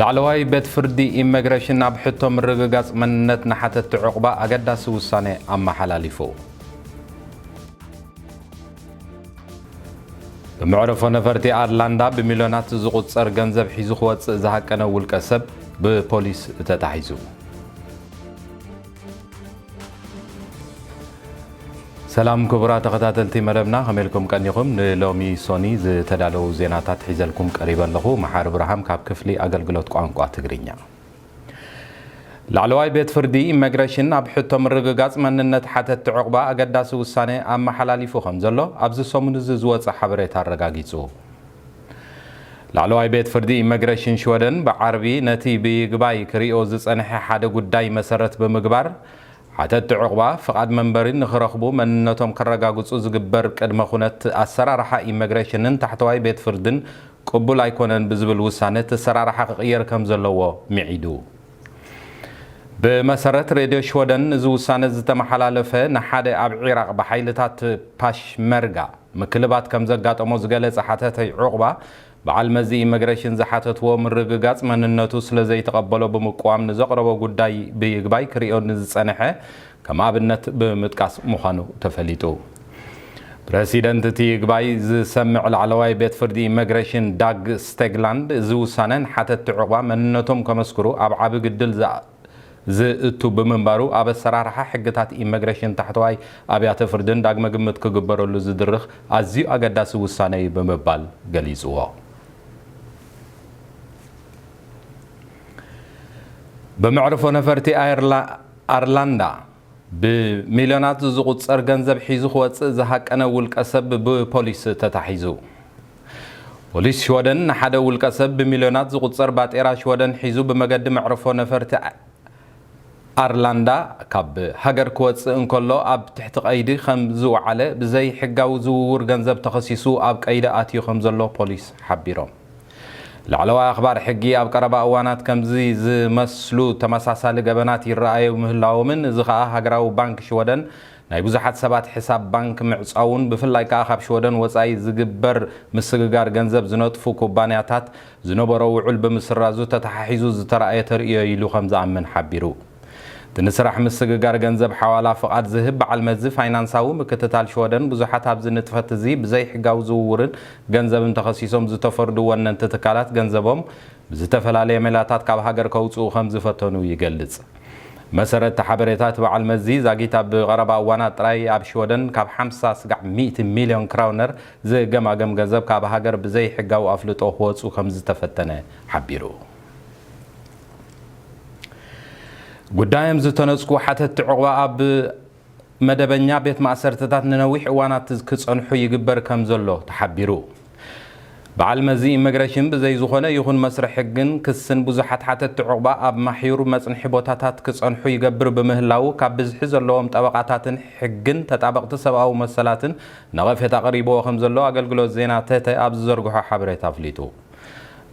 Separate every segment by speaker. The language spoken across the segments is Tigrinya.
Speaker 1: ላዕለዋይ ቤት ፍርዲ ኢመግረሽን ኣብ ሕቶ ምርግጋፅ መንነት ንሓተቲ ዑቕባ ኣገዳሲ ውሳነ ኣመሓላሊፉ። ብመዕርፎ ነፈርቲ ኣርላንዳ ብሚልዮናት ዝቑጸር ገንዘብ ሒዙ ክወጽእ ዝሃቀነ ውልቀ ሰብ ብፖሊስ ተታሒዙ። ሰላም ክቡራት ተኸታተልቲ መደብና ከመይ ኢልኩም ቀኒኹም? ንሎሚ ሶኒ ዝተዳለዉ ዜናታት ሒዘልኩም ቀሪበ ኣለኹ። መሓሪ ብርሃም ካብ ክፍሊ ኣገልግሎት ቋንቋ ትግርኛ። ላዕለዋይ ቤት ፍርዲ ኢመግረሽን ኣብ ሕቶ ምርግጋጽ መንነት ሓተትቲ ዑቕባ ኣገዳሲ ውሳነ ኣመሓላሊፉ ከምዘሎ ኣብዚ ሰሙን'ዚ ዝወጸ ሓበሬታ ኣረጋጊጹ። ላዕለዋይ ቤት ፍርዲ ኢመግረሽን ሽወደን ብዓርቢ ነቲ ብይግባይ ክሪኦ ዝጸንሐ ሓደ ጉዳይ መሰረት ብምግባር ሓተትቲ ዑቕባ ፍቓድ መንበሪ ንኽረኽቡ መንነቶም ከረጋግጹ ዝግበር ቅድመ ኩነት ኣሰራርሓ ኢመግረሽንን ታሕተዋይ ቤት ፍርድን ቅቡል ኣይኮነን ብዝብል ውሳነ እቲ ኣሰራርሓ ክቕየር ከምዘለዎ ምዒዱ። ብመሰረት ሬድዮ ሽወደን እዚ ውሳነ ዝተመሓላለፈ ንሓደ ኣብ ዒራቕ ብሓይልታት ፓሽመርጋ ምክልባት ከምዘጋጠሞ ዝገለጸ ሓተታይ ዑቕባ በዓል መዚ ኢመግረሽን ዝሓተትዎ ምርግጋጽ መንነቱ ስለዘይተቐበሎ ብምቅዋም ንዘቕረቦ ጉዳይ ብይግባይ ክርእዮ ንዝጸንሐ ከም ኣብነት ብምጥቃስ ምዃኑ ተፈሊጡ። ፕረሲደንት እቲ ይግባይ ዝሰምዕ ላዕለዋይ ቤት ፍርዲ ኢመግረሽን ዳግ ስቴግላንድ እዚ ውሳነ ንሓተትቲ ዑቕባ መንነቶም ከመስክሩ ኣብ ዓቢ ግድል ዝእቱ ብምንባሩ ኣብ ኣሰራርሓ ሕግታት ኢመግረሽን ታሕተዋይ ኣብያተ ፍርድን ዳግመ ግምት ክግበረሉ ዝድርኽ ኣዝዩ ኣገዳሲ ውሳነ እዩ ብምባል ገሊጽዎ። ብመዕርፎ ነፈርቲ ኣየር ኣርላንዳ፣ ብሚልዮናት ዝቑጸር ገንዘብ ሒዙ ክወጽእ ዝሃቀነ ውልቀሰብ ብፖሊስ ተታሒዙ። ፖሊስ ሽወደን ንሓደ ውልቀሰብ ብሚልዮናት ዝቑጸር ባጤራ ሽወደን ሒዙ ብመገዲ መዕርፎ ነፈርቲ ኣርላንዳ ካብ ሃገር ክወጽእ እንከሎ ኣብ ትሕቲ ቀይዲ ከም ዝወዓለ ብዘይሕጋዊ ዝውውር ገንዘብ ተኸሲሱ ኣብ ቀይዲ ኣትዩ ከም ዘሎ ፖሊስ ሓቢሮም። ላዕለዋይ ኣኽባር ሕጊ ኣብ ቀረባ እዋናት ከምዚ ዝመስሉ ተመሳሳሊ ገበናት ይረኣዩ ምህላዎምን እዚ ከኣ ሃገራዊ ባንክ ሽወደን ናይ ብዙሓት ሰባት ሕሳብ ባንክ ምዕጻዉን ብፍላይ ከኣ ካብ ሽወደን ወጻኢ ዝግበር ምስግጋር ገንዘብ ዝነጥፉ ኩባንያታት ዝነበሮ ዉዑል ብምስራዙ ተተሓሒዙ ዝተራእየ ተርእዮ ኢሉ ከምዝኣምን ሓቢሩ። እቲ ንስራሕ ምስግጋር ገንዘብ ሓዋላ ፍቓድ ዝህብ በዓል መዚ ፋይናንሳዊ ምክትታል ሽወደን ብዙሓት ኣብዚ ንጥፈት እዚ ብዘይሕጋዊ ዝውውርን ገንዘብን ተኸሲሶም ዝተፈርዱ ወነንቲ ትካላት ገንዘቦም ብዝተፈላለየ ሜላታት ካብ ሃገር ከውጽኡ ከምዝፈተኑ ይገልጽ። ብመሰረት እቲ ሓበሬታ እቲ በዓል መዚ ዛጊት ኣብ ቐረባ እዋናት ጥራይ ኣብ ሽወደን ካብ ሓምሳ ስጋዕ ሚእቲ ሚልዮን ክራውነር ዝገማገም ገንዘብ ካብ ሃገር ብዘይሕጋዊ ኣፍልጦ ክወጹ ከምዝተፈተነ ሓቢሩ። ጉዳዮም ዝተነጽጉ ሓተትቲ ዑቕባ ኣብ መደበኛ ቤት ማእሰርትታት ንነዊሕ እዋናት ክጸንሑ ይግበር ከምዘሎ ተሓቢሩ። በዓል መዚ ኢመግረሽን ብዘይ ዝኾነ ይኹን መስርሕ ሕግን ክስን ብዙሓት ሓተትቲ ዑቕባ ኣብ ማሕዩር መጽንሒ ቦታታት ክጸንሑ ይገብር ብምህላዉ ካብ ብዝሒ ዘለዎም ጠበቓታትን ሕግን ተጣበቕቲ ሰብኣዊ መሰላትን ነቐፌታ ቀሪብዎ ከምዘሎ ኣገልግሎት ዜና ተተ ኣብ ዝዘርግሖ ሓበሬታ ኣፍሊጡ።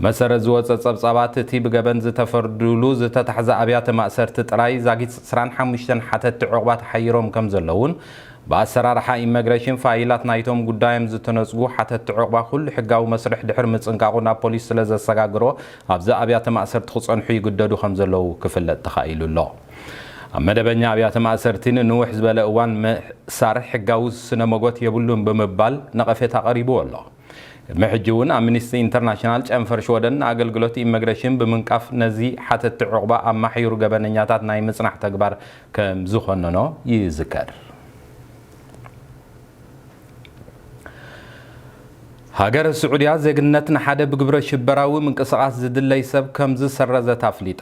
Speaker 1: መሰረት ዝወጸ ጸብጻባት እቲ ብገበን ዝተፈርዱሉ ዝተታሕዛ ኣብያተ ማእሰርቲ ጥራይ ዛጊት ዕስራን ሓሙሽተን ሓተቲ ዑቕባ ተሓይሮም ከምዘለዉን ብኣሰራርሓ ኢመግረሽን ፋይላት ናይቶም ጉዳዮም ዝተነጽጉ ሓተቲ ዑቕባ ኩሉ ሕጋዊ መስርሕ ድሕሪ ምጽንቃቑ ናብ ፖሊስ ስለዘሰጋግሮ ኣብዚ ኣብያተ ማእሰርቲ ክጸንሑ ይግደዱ ከምዘለዉ ክፍለጥ ተኻኢሉ ኣሎ። ኣብ መደበኛ ኣብያተ ማእሰርቲ ንንውሕ ዝበለ እዋን ምእሳር ሕጋዊ ስነ ሞጎት የብሉን ብምባል ነቐፌታ ቀሪብዎ ኣሎ። ቅድሚ ሕጂ እውን ኣምኒስቲ ኢንተርናሽናል ጨንፈር ሽወደን ንኣገልግሎት ኢመግረሽን ብምንቃፍ ነዚ ሓተቲ ዑቕባ ኣማሕዩሩ ገበነኛታት ናይ ምጽናሕ ተግባር ከም ዝኾነኖ ይዝከር። ሃገረ ስዑድያ ዜግነት ንሓደ ብግብረ ሽበራዊ ምንቅስቓስ ዝድለይ ሰብ ከም ዝሰረዘት ኣፍሊጣ።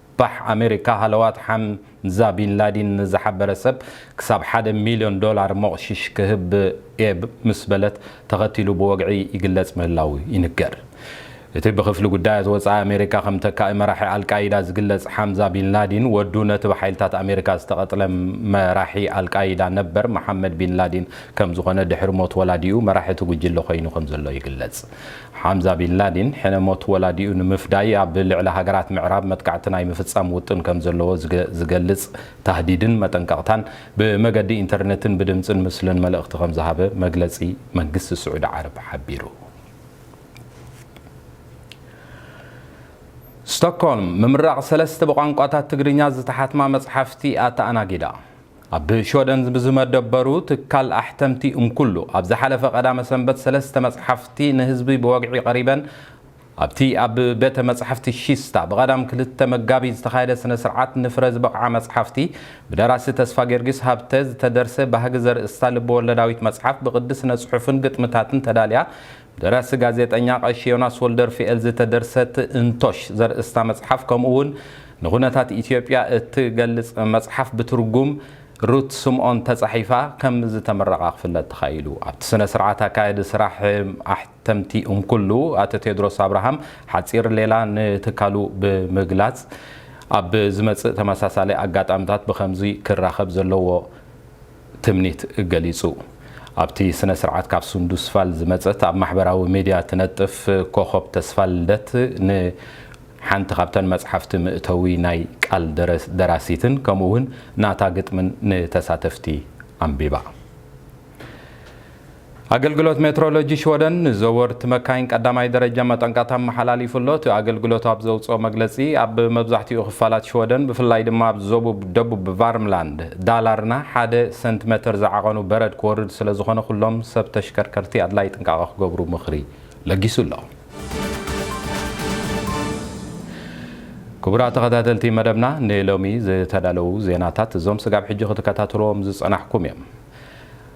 Speaker 1: ፓሕ ኣሜሪካ ሃለዋት ሓምዛ ቢን ላዲን ንዝሓበረ ሰብ ክሳብ ሓደ ሚልዮን ዶላር ሞቕሺሽ ክህብ እየ ምስ በለት ተኸቲሉ ብወግዒ ይግለጽ ምህላዉ ይንገር። እቲ ብክፍሊ ጉዳያት ወጻኢ ኣሜሪካ ከም ተካኢ መራሒ ኣልቃይዳ ዝግለጽ ሓምዛ ቢን ላዲን ወዱ ነቲ ብሓይልታት ኣሜሪካ ዝተቐትለ መራሒ ኣልቃይዳ ነበር መሓመድ ቢን ላዲን ከምዝኾነ ድሕሪ ሞት ወላዲኡ መራሒ እቲ ጉጅለ ኮይኑ ከምዘሎ ይግለጽ። ሓምዛ ቢን ላዲን ሕነ ሞት ወላዲኡ ንምፍዳይ ኣብ ልዕሊ ሃገራት ምዕራብ መጥቃዕቲ ናይ ምፍጻም ውጥን ከም ዘለዎ ዝገልጽ ታህዲድን መጠንቀቕታን ብመገዲ ኢንተርነትን ብድምጽን ምስልን መልእኽቲ ከም ዝሃበ መግለጺ መንግስቲ ስዑዲ ዓረብ ሓቢሩ። ስቶክሆልም፣ ምምራቕ ሰለስተ ብቋንቋታት ትግርኛ ዝተሓትማ መጽሓፍቲ ኣተኣናጊዳ። ኣብ ሽወደን ብዝመደበሩ ትካል ኣሕተምቲ እምኩሉ ኣብ ዝሓለፈ ቀዳመ ሰንበት ሰለስተ መጽሓፍቲ ንህዝቢ ብወግዒ ቀሪበን። ኣብቲ ኣብ ቤተ መጻሕፍቲ ሺስታ ብቀዳም ክልተ መጋቢት ዝተኻየደ ስነ ስርዓት ንፍረ ዝበቕዓ መጽሓፍቲ ብደራሲ ተስፋጌርጊስ ሃብተ ዝተደርሰ ባህጊ ዘርእስታ ልበወለዳዊት መጽሓፍ ብቅዲ ስነ ጽሑፍን ግጥምታትን ተዳልያ ደራሲ ጋዜጠኛ ቀሺ ዮናስ ወልደርፍኤል ዝተደርሰት እንቶሽ ዘርእስታ መጽሓፍ ከምኡ ውን ንኩነታት ኢትዮጵያ እትገልጽ መጽሓፍ ብትርጉም ሩት ስምኦን ተጻሒፋ ከም ዝተመረቓ ክፍለጥ ተኻኢሉ። ኣብቲ ስነ ስርዓት ኣካያዲ ስራሕ ኣሕተምቲ እንኩሉ ኣቶ ቴድሮስ ኣብርሃም ሓጺር ሌላ ንትካሉ ብምግላጽ ኣብ ዝመጽእ ተመሳሳሊ ኣጋጣምታት ብኸምዚ ክራኸብ ዘለዎ ትምኒት ገሊጹ። ኣብቲ ስነ ስርዓት ካብ ሱንዱስቫል ዝመጸት ኣብ ማሕበራዊ ሚድያ ትነጥፍ ኮኾብ ተስፋልደት ን ሓንቲ ካብተን መጽሓፍቲ ምእተዊ ናይ ቃል ደራሲትን ከምኡ ውን ናታ ግጥምን ንተሳተፍቲ ኣንቢባ። ኣገልግሎት ሜትሮሎጂ ሽወደን ንዘወርቲ መካይን ቀዳማይ ደረጃ መጠንቀቕታ ኣመሓላሊፉ ኣሎ። እቲ ኣገልግሎት ኣብ ዘውጽኦ መግለጺ፣ ኣብ መብዛሕትኡ ክፋላት ሽወደን ብፍላይ ድማ ኣብ ዞቡብ ደቡብ ቫርምላንድ፣ ዳላርና፣ ሓደ ሰንቲመተር ዝዓቐኑ በረድ ክወርድ ስለዝኾነ ኩሎም ሰብ ተሽከርከርቲ ኣድላይ ጥንቃቐ ክገብሩ ምኽሪ ለጊሱ ኣሎ። ክቡራት ተኸታተልቲ መደብና ንሎሚ ዝተዳለዉ ዜናታት እዞም ስጋብ ሕጂ ክትከታተልዎም ዝጸናሕኩም እዮም።